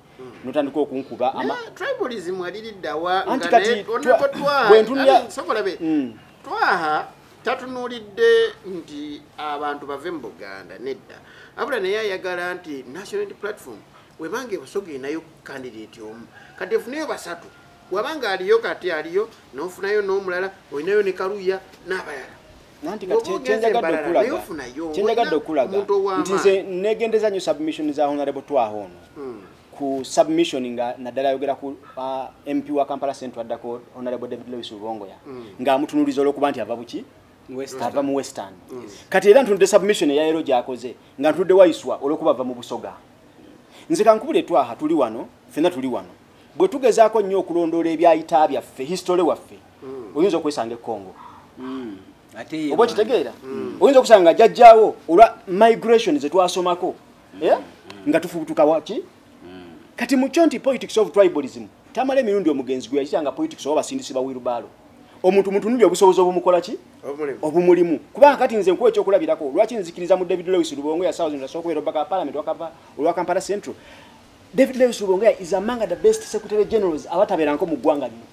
notandika okunkuba ama tribalism aliriddawa anti kati bwentunya sobola be mm. twaha tatunulidde nti abantu bave mu buganda nedda abula naye ayagala nti national unity platform webanga ebusoga enayo candidate omu kati efuneyo basatu wabanga aliyo kati aliyo nofunayo nomulala olinayo ne kaluya n'abalala nanti kyenjagadde okulaga nti nze negendeza nyo submission za honorable twaho ono hmm. ku submission nga naddala ayogera ku uh, mp wa kampala central addako honorable david lewis lubongoya hmm. nga amutunuliza olwokuba nti ava buki ava mu western hmm. kati era ntunudde submission eyaero gyakoze nga ntunudde waiswa olwokuba ava mu busoga nze kankubula etwaha tuli wano fena tuli wano bwe tugezaako nnyo okulondoola ebyayita byaffe history waffe mm. oyinza okwesanga ekongo mm. oba okitegeera mm. oyinza okusanga jajjawo olwa migration zetwasomako eh? nga tufubutuka waki kati mukyo nti politics of tribalism tamala emirundi omugenzi gwe yakitanga politics oba basindisi ba wirubaalo omuntu mutunulya obusobozi obumukola ki obumulimu kubanga kati nze nkuwa ekyokulabirako lwaki nzikiriza mu david lewis lubongo yasaokubeera obaka wa palamenti olwa kampala central david lewis lubongo is among the best secretary generals abatabeeranko mu ggwanga lino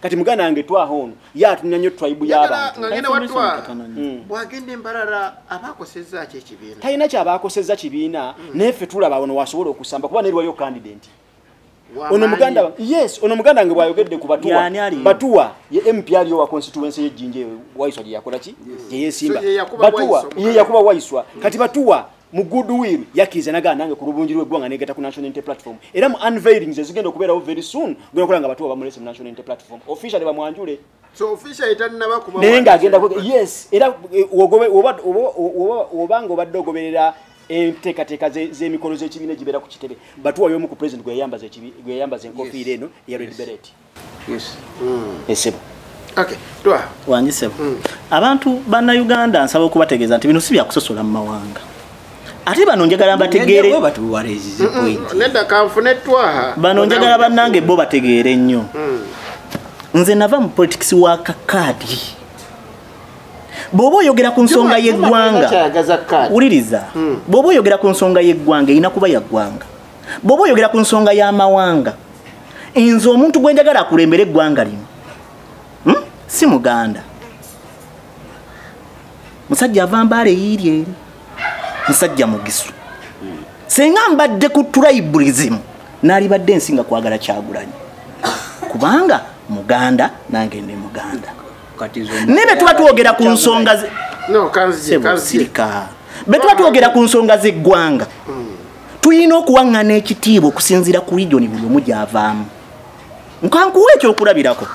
kati muganda wange twaha ono ye atumya nnyo tribe y'abantutalina mm. kyabaakosezza kibiina mm. naye ffe tulaba ono wasobola okusamba kuba neriwayo kandidenti ono muganda yes ono muganda nge bwayogedde ku batuwa batuwa ye mp aliyo wa constituency ye jinje waiswa je yakola ki je yesimba batuwa ye yakuba waiswa kati batuwa mu goodwill yakiriza nagaa nange ku lubungi lweggwanga negata ku national unity platform era mu unveilings ezigenda okubeerawo very soon genda okola nga batuwa bamulese mu national unity platform officially bamwanjule naye ng'agenda yes era eh, obanga obadde ogoberera enteekateeka z'emikolo z'ekibiina egibeera ku kitebe batuwayo omu ku president gwe yayambaza enkofiira eno eya red beret yes mm. esebo okay twa wangi sebo mm. abantu bana uganda nsaba okubategeza nti bino si byakusosola mu mawanga ate bano njagala mbategeere nedda kanfune twaha bano njagala bannange bo bategeere nnyo mm. nze nava mu politics wa kakaadi bwoba oyogera ku nsonga y'eggwanga wuliriza hmm. bwoba oyogera ku nsonga y'eggwanga erina kuba yaggwanga bwoba oyogera ku nsonga y'amawanga nze omuntu gwe njagala akulembere eggwanga lino hmm? si muganda musajja ava mbaala eyiiri eri musajja mugisu senga mbadde ku tribalism nalibadde ensinga kwagala kyagulanyi kubanga muganda nange ndi muganda naye betuba twogera ku nsonga sirika betuba twogera ku nsonga zeggwanga hmm. tulina okuwaŋŋana ekitiibwa okusinziira ku lijoni buli omu gyavaamu nkankuwa ekyokulabirako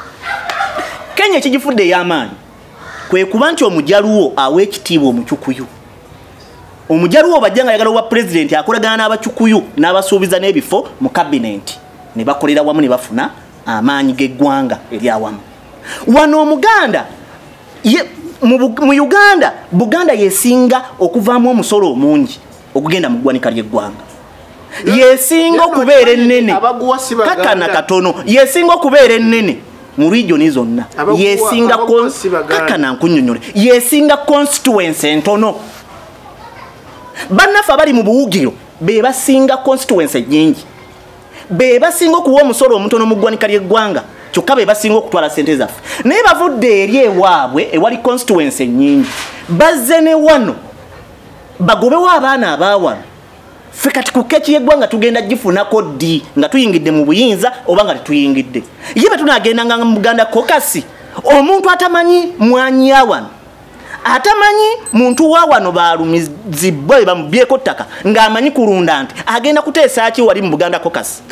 kenya ekigifudde ey'amaanyi kwe kuba nti omujaluwo awa ekitiibwa omucukuyu omujaluwo bajja nga yagala obwa pulezidenti akolagana n'abacukuyu n'abasuubiza n'ebifo mu kabinenti ne bakolera wamu ne bafuna amaanyi g'eggwanga eri awamu wano omuganda mu uganda buganda yesinga okuvaamu omusolo omungi okugenda mu ggwanika ly'eggwanga yesinga okubeera ennene kakana katono yesinga okubeera ennene mu regioni zonna yesinga kakana nkunyonyole yesinga constituency entono bannaffe abali mu buwugiro be basinga constituency nyingi be basinga okuwa omusolo omutono mu ggwanika ly'eggwanga kyokka be basinga okutwala sente zaffe naye bavudde eri ewaabwe ewali constituency nyingi bazze ne wano bagobewo abaana abaawano ffe kati ku keeki yeggwanga tugenda gifunako ddi nga tuyingidde mu buyinza oba nga tetuyingidde ye bwe tunagendanga mu buganda kokasi omuntu atamanyi mwanyi awano atamanyi muntu wa wano balumizibwa be bamubyeko ttaka ng'amanyi kulunda nti agenda kuteesa ki wali mu buganda kokasi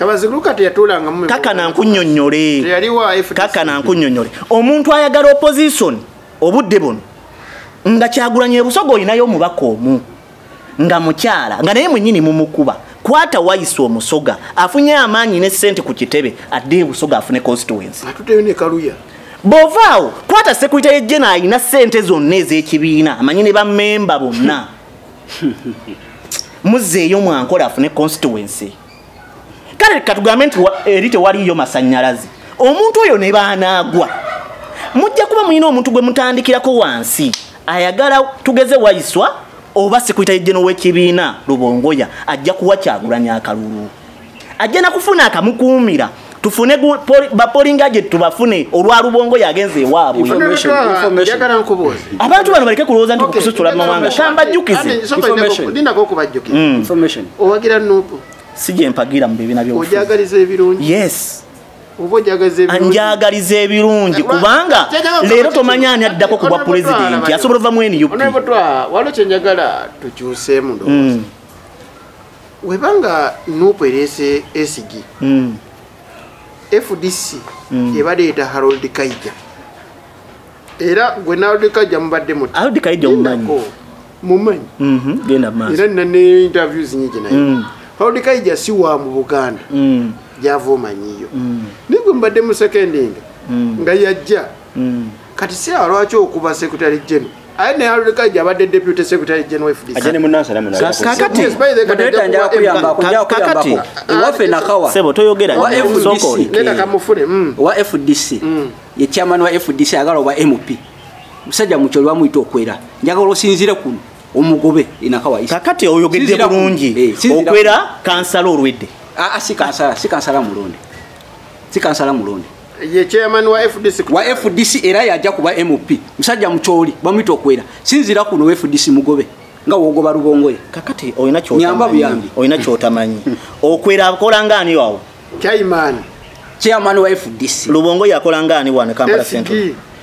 kakana nkunyonyole kakana nkunyonyole omuntu ayagala opozisoni obudde buno nga kyagulanyi ebusoga olinayo omubaka omu nga mukyala nga naye mwenyini mumukuba kwata wayisa omusoga afunye amaanyi ne sente ku kitebe adde ebusoga afune constituency bovaawo kwata sekulita yejjena alina sente zonna ez'ekibiina amanyi ne bamemba bonna muzzeeyo mwankola afune constituency kale katugambe nti eri tewaliyo masanyalaze omuntu oyo ne baanaagwa mujja kuba mulina omuntu gwe mutandikirako wansi ayagala tugeze wayiswa oba sikuyita yejjeno w'ekibiina lubongoya ajja kuwa kyagulanya akalulu ajja nakufuna akamukuumira tufune bapolinga gye tubafune olwa lubongo yagenze ewaabwe abantu bano baleke kulowooza nti kusucula mu mawanga kambajjukizedindako okubajjukira mm. owagira nupu si gye mpagira mu bibiina byojagaliza ebirungi yes njagaliza ebirungi kubanga leero tomanya ani addako ku bwa pulezidenti asobola ova mu nup waliwo kyenjagala tukyuseemu ndowooza mm. weba nga nup ereese esigi mm. fdc mm. ebadde eta harold kaija era gwe narold kaija mubadde mutharold kaija omumanyi mumanyi mm-hmm. genda maaso era nina ne interviews nyingi naye mm. harold kaija si wa mu buganda mm. gyava omanyiyo mm. naye gwe mubadde musekendinga mm. nga yajja mm. kati siraba lwaki okuba secretary general aye naye alulekaija abadde deputy secretary general fdckakati waffe nakawa wa fdc mm. mm. ye chairman wa fdc agala oba mp musajja mukyo lwamuyita okwera njagala osinzire kuno omugobe inakawa kakati oyogedde bulungi eh, okwera kansala olwedde ah, ah, si kansala mulonde si kansala mulonde ye chairman wa fdc wa fdc era yaja kuba mp musajja mucholi bamwita okwera sinzira kuno fdc mugobe nga wogoba rubongo ye kakati oyina kyo nyamba buyambi oyina kyo tamanyi okwera akola ngani wawo chairman chairman wa fdc rubongo yakola ngani wana kampala central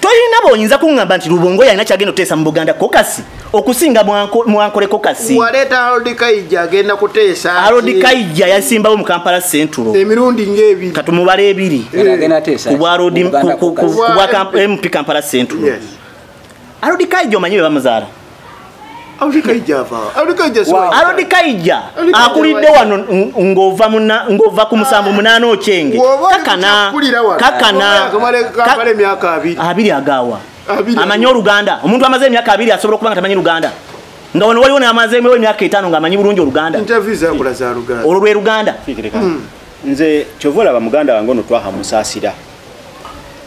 tolina boyinza kuŋŋamba nti lubongo yalina kyagenda okuteesa mu buganda kokasi okusinga mwankole kokasi waleeta arodi kaija agenda kuteesa arodi kaija yasimbawo mu kampala centulo emirundi ngaebiri katumubala ebiri kubwa mp kampala centulo arodi kaija omanyi be bamuzaala alodikaija akulidde wano ngova ngova ku musanvu munaana okyenge kakana kakana abiri agawa amanyi oluganda omuntu amaze emyaka abiri asobola okuba nga tamanyi luganda nga wano waliwo namazeemu emyaka etaano nga amanyi bulungi oluganda olwo lwe luganda hmm. nze kyova olaba muganda wange ono twaha musaasira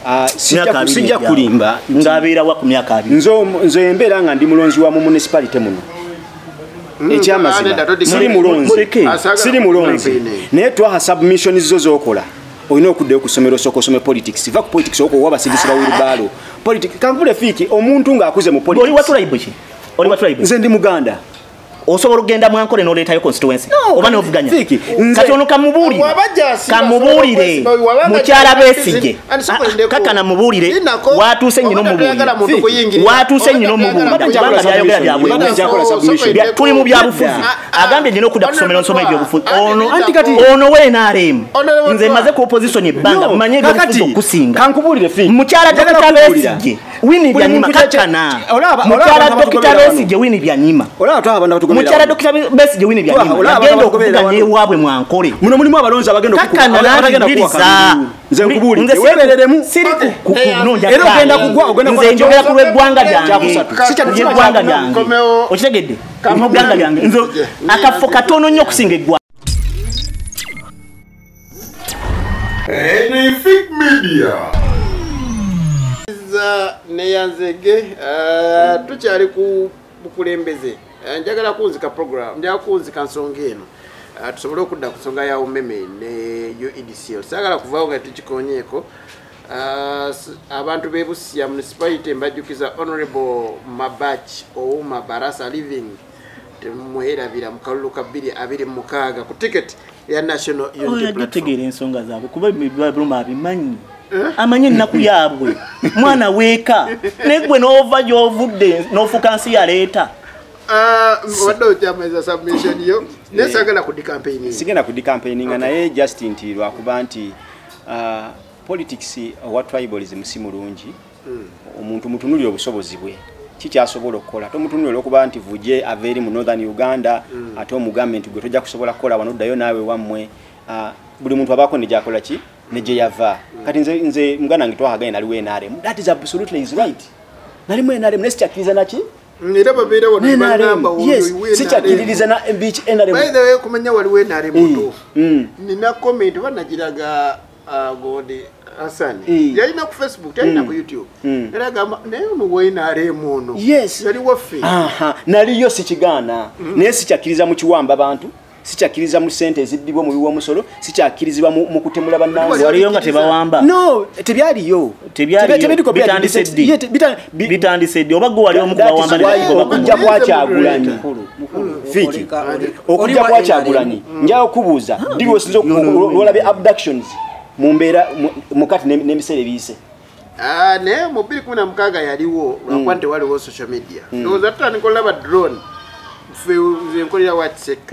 Ah, sijja kulimba ng'abeera wa ku myaka abiri nze embeera nga ndi mulonzi wa mu municipality muno hmm, ekyamazima siri mulonzi siri mulonzi naye twaha submission zo zokola olina okuddayo ku ssomero osooka osome politics va ku politics owoka owa basibisi ba wilbaalo politics kanvule fiiki omuntu ng'akuze mu politics nze ndi muganda osobola okugenda mu ankole n'oleetayo constituency oba n'ovuganya kati ono kamubuulire kamubuulire mukyala besigye ah, ah, kakana mubuulire watuuse nyina omubuulire watuuse nyina omubuulirkubanga byayogera byabwe tuli mu byabufuzi ah, agambye nyina okudda kusomero nsoma ebyobufuzi ono wenaremu nze maze ku opposition ebbanga mumanye ebyobufuzi okusinga mukyala dokita besigye wini byanyima kacana mukyala dokita besi gye wini byanyima mukyala dokita besi gye wini byanyima agenda okuvuga newaabwe mwankole muno mulimu abalonzi abagenda kakanaakiriza nze nkubuulire weebereremu era ogenda kugwa ogenda nze njogera ku lw'eggwanga lyange eggwanga lyange okitegedde eggwanga lyange nze akafo katono nnyo okusinga eggwanga Anything media. neyanzege eh, tukyali ku bukulembeze eh, njagala kunzika program njagala kunzika nsonga eno eh, tusobole okudda ku nsonga ya umeme ne uedcl sagala kuvaawo nga tukikonyeeko abantu bebusiya municipality mbajjukiza honorable mabach ouma barasa living temumwerabira mu kalulu ka 226 ku tiketi eya national unityategeera ensonga zaabwe kuba ebibabroma abimanyi eh? amanyi ennaku yaabwe mwana weeka naye gwe n'ova gy'ovudde n'ofuka nsi yaleeta ah, wadde okyamaiza submission yo naye eh. sagala kudi campaigning sigenda kudi campaigning naye just nti lwakuba nti ah, politics owa tribalism si mulungi omuntu mutunulire obusobozi bwe kikyasobola okukola tomutunula olwokuba nti vuje ava eri mu northern uganda mm. ate omugambe nti gwe tojja kusobola kukola wano ddayo naawe wammwe ah, buli muntu abaako negyakola ki negyeyava mm. kati nze, nze muganda wange twahaganye naliwo nrm that is absolutely is right nalimu nrm naye sikyakkiriza naki mm, era babeera wanosikyakkiririza nrm kumanya waliwo nrm nina komenti banagiraga Ah, gode hasani eh. yalina ku facebook talina ku mm. youtube mm. era agamba naye ono wnrm ono yali waffe naliyo sikigaana mm. naye sikyakkiriza mu kiwamba bantu sikyakkiriza mu sente ezibbibwa omubi w'omusolo sikyakkirizibwa mu kutemula bannange waliyo nga tebawamba no tebyaliyo tebyaliyo bitandise ddi bitandise ddi oba gwe wali omu kubawambaokujja kwakyagulanyi fiki okujja kwakyagulanyi mm. njaga okubuuza ddi lwosinza olwolabye abductions mu mbeera mukati n'ebiseera ebiyise ah, naye mu bbiri kumi na mukaaga yaliwo lwakuba mm. nti waliwo social media mm. ndowooza tutandika olaba drone fe nze nkolera watsek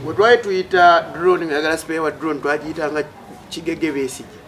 wetwali tuyita drone ngayagala sipeewa drone twagiyitanga kigege besigye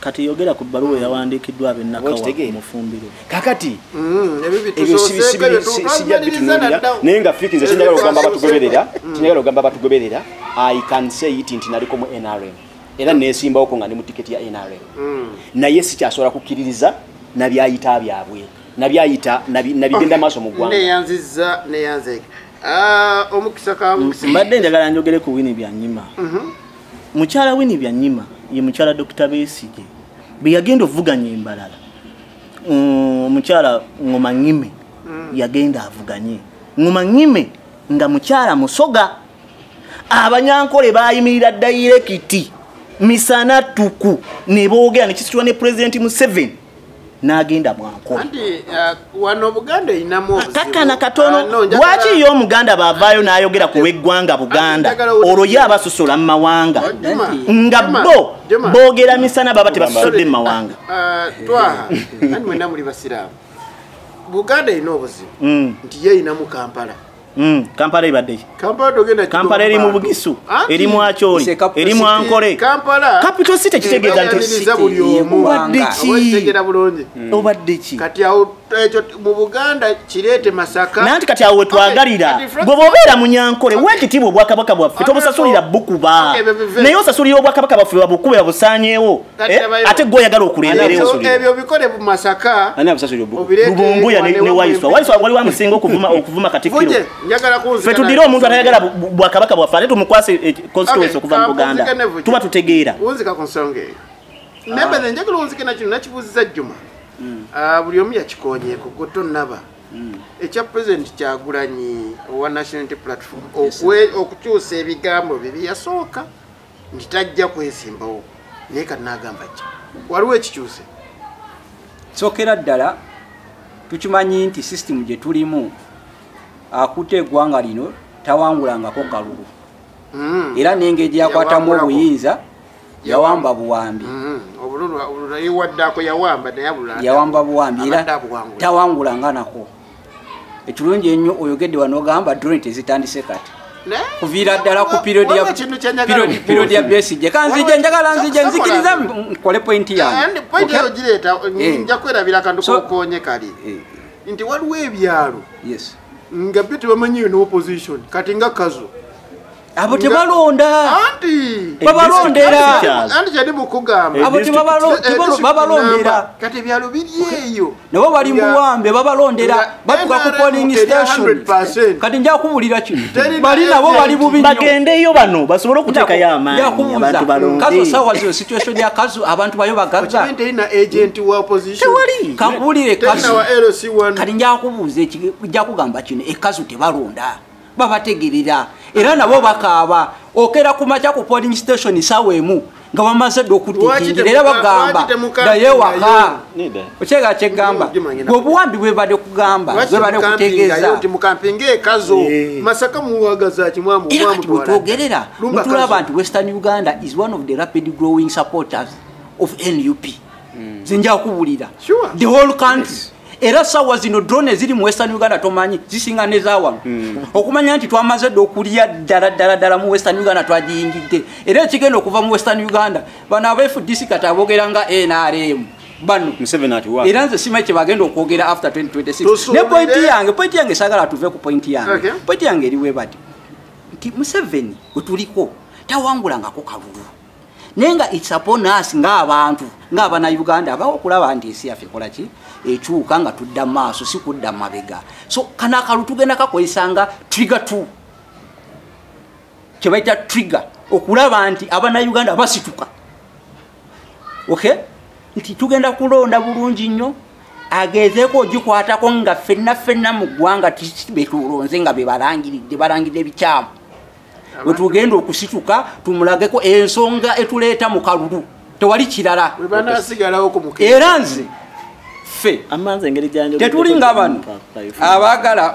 kati yogera ku bbaluwa eyawandiikiddwa abennakawa mufumbiro kakati mm, ebyo sijja bitunulira naye nga fiki nze kinjagala okugamba batugoberera kinjagala okugamba batugoberera i can say it nti naliko mu nrm era nesimbawoko nga ndi mu tiketi ya nrm mm. naye sikyasobola kukkiririza nabyayita byabwe nabyayita nabigenda maaso mu ggwanga neyanziza neyanzeka ah, omukisa kamukisa mbadde njagala njogere ku wini byanyima mhm. mukyala wini byanyima ye mukyala dokita besige beyagenda ovuganya embalala mm, mukyala ngomanyime mm. yagenda avuganye ngomanyime nga mukyala musoga abanyankole bayimirira dayirekiti misana tuku nebogera nekisitula ne pulezidenti museveni nagenda mwankolakakana uh, katono uh, lwaki yo omuganda bavaayo nayogera ku lweggwanga buganda olwo ye abasosola mu mawanga nga bo bogera misana baba tebasosodde mu mawanga uh, buganda erina obuzibu mm. nti yeyinamu kampala Mm, kampala ebadde kampala eri mu bugisu eri mu akyoli eri mu ankole capital city kitegeeza ntiobaddekiobaddeki mm. nanti kati awo wetwagalira gwe bobeera munyankole wekitiibwa obwakabaka bwaffe tobusasulira bukuba naye osasulira obwakabaka bwaffe babukube babusanyewo Eh, ate gwe oyagala okuleereebyo bikole mu masaka lubunguya ne waiswa waiswa wali wamusinga okuvuma okuvuma katikiro fe tudire omuntu atayagala bwakabaka bwaffe ate tumukwase eh, constituency okuva mu buganda tuba tutegeera wunzika ku nsonga eyo ah. naye bene njagala wunzike nakino nakibuuziza jjuma hmm. ah, buli omu yakikonyeeko gwe tonnaba hmm. ekya president kyagulanyi owa nationality platform okukyusa ebigambo bye byeyasooka nti tajja kwesimbawo naye kati nagamba kya waliwo ekikyuse sokera ddala tukimanyi nti sisitimu gye tulimu akutte eggwanga lino tawangulangako kalulu hmm. era nengeri gyeyakwatamu obuyinza yawamba buwambi hmm. yawamba buwambi era tawangula nga nako ekirungi ennyo oyogedde wanogamba drone tezitandise kati kuviira ddala ku period ya besije kanzije njagala nzije nzikiriza nkole pointi yange nti waliwo ebyalo nga byo tebamanyiyo ne opposition kati nga kazo abo tebalonda babalondera anti kyali mukugamba abo tebabalondera kati ebyalo biri eyo nabo bali muwambe babalondera batuka ku polling station kati nja kubulira kino bali nabo bali bubi nyo bagendeyo bano basobole okutekayo amaanyi abantu balonde kazo sawa zino situation ya kazo abantu bayo bagaza tewali kakubulire kazo kati nja kubuuza ekigamba kino ekazo tebalonda babategerera era nabo bakaaba okera ku makya ku polling station sawa emu nga bamaze dde okutikingira era bagamba naye waka okyega kyegamba obuwambi bwebade kugamba bwebade kutegeezaogerera mutulaba nti western uganda is one of the rapid growing supporters of nup hmm. zenjakubulira the whole country yes. era sawa zino drone eziri mu western uganda tomanyi zisinga nezawano mm. okumanya nti twamaze dde okulya ddala ddala ddala mu western uganda twagiyingidde era ekigenda okuva mu western uganda bano abfdc kati abogera nga nrm bano era nze simanyi kyebagenda okwogera after 2026 ne pointi yange pointi yange sagala tuve ku pointi yange okay. pointi yange eriwebati nti museveni wetuliko tawangulangako kalulu naye nga its upon us ngaabantu ngaabana uganda abawo okulaba nti ensi yaffe ekolaki ekyuka nga tudda maaso si kudda mabega so kana akalu tugenda kakozesa nga trigger t kyebaita trigger okulaba nti abana uganda basituka ok nti tugenda kulonda bulungi nnyo agezeeko ogikwatako nga fenna fenna mu ggwanga tbetulonze nga bebalangiridde balangiridde ebikyamu wetugenda okusituka tumulageko ensonga etuleeta mu kalulu tewali kirala era nze ffe tetuli nga bano abaagala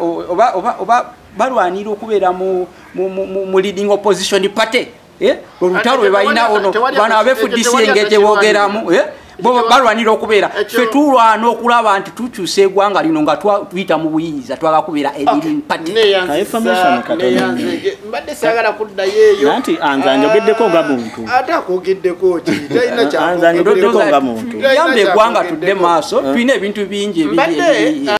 oba balwanira okubeera mu leading opposition party eh? olutalo lwebalina ono bano abefudisi engeri gyebogeramu eh? bo balwanira okubeera fe tulwana okulaba nti tukyusa egwanga lino nga tuyita mu buyinza twala kubeera mbadde sagala kuddayo eyonanti anza njogeddeko nga muntu ah, ate akogeddeko kianzanjogeddeko nga muntu yamba egwanga tudde maaso eh? tulina ebintu bingi ebiri